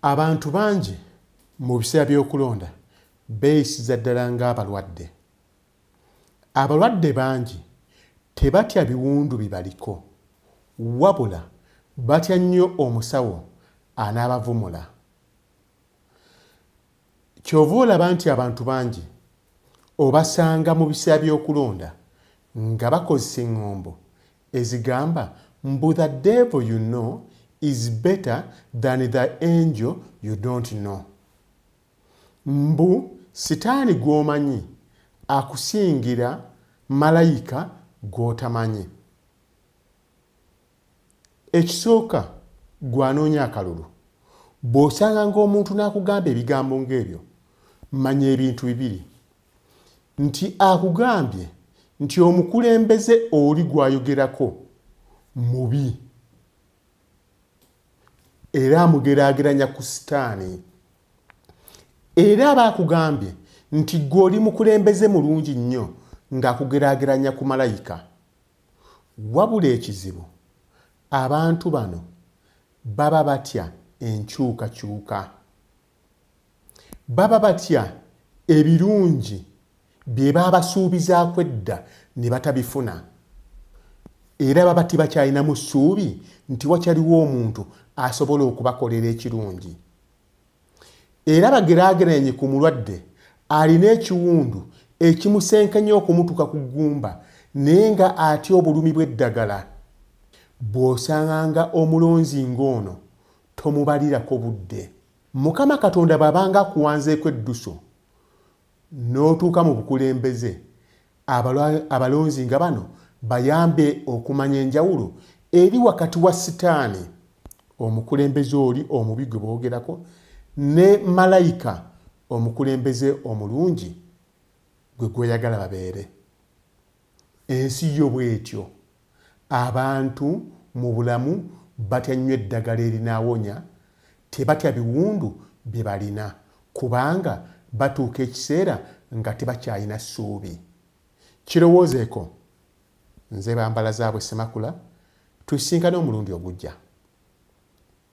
abantu bangi mu biseera by'okulonda beeyisiza ddala ng'abalwadde abalwadde bangi tebatya biwundu bibaliko wabula batya nnyo omusawo anaabavumula kyova olaba nti abantu bangi obasanga mu biseera by'okulonda nga bakozesa eŋŋombo ezigamba mbu the devil you know is better than the angel you don't know mbu sitaani gw'omanyi akusingira malayika gw'otamanyi ekisooka gwanoonya akalulu bw'osanga ng'omuntu n'akugamba ebigambo ng'ebyo manya ebintu bibiri nti akugambye nti omukulembeze oli gwayogerako mubi era amugeraageranya ku sitaani era aba akugambye nti gwe oli mukulembeze mulungi nnyo ng'akugeraageranya ku malayika wabula ekizibu abantu bano baba batya enkyukakyuka baba batya ebirungi bye baabasuubizaako edda ne batabifuna era baba tibakyalinamu ssuubi nti wakyaliwo omuntu asobola okubakolera ekirungi era bageraageranye ku mulwadde alina ekiwundu ekimusenkanya okumutuka ku ggumba naye nga atya obulumi bw'eddagala bw'osanga nga omulonzi ng'ono tomubalirako budde mukama katonda bwabanga akuwanzeeko edduso n'otuuka mu bukulembeze abalonzi nga bano bayambe okumanya enjawulo eri wakati wa sitaani omukulembeze oli omubi gwe boogerako ne malayika omukulembeze omulungi gwe gweyagala babeere ensi yo bwetyo Abantu mu bulamu batya nnyo eddagala erinaawonya, tebatya biwundu bye balina kubanga batuuka ekiseera nga tebakyalina ssuubi. Kirowoozeeko, Nze Bambalazaabwe Ssemakula, tusisinkane omulundi ogujja.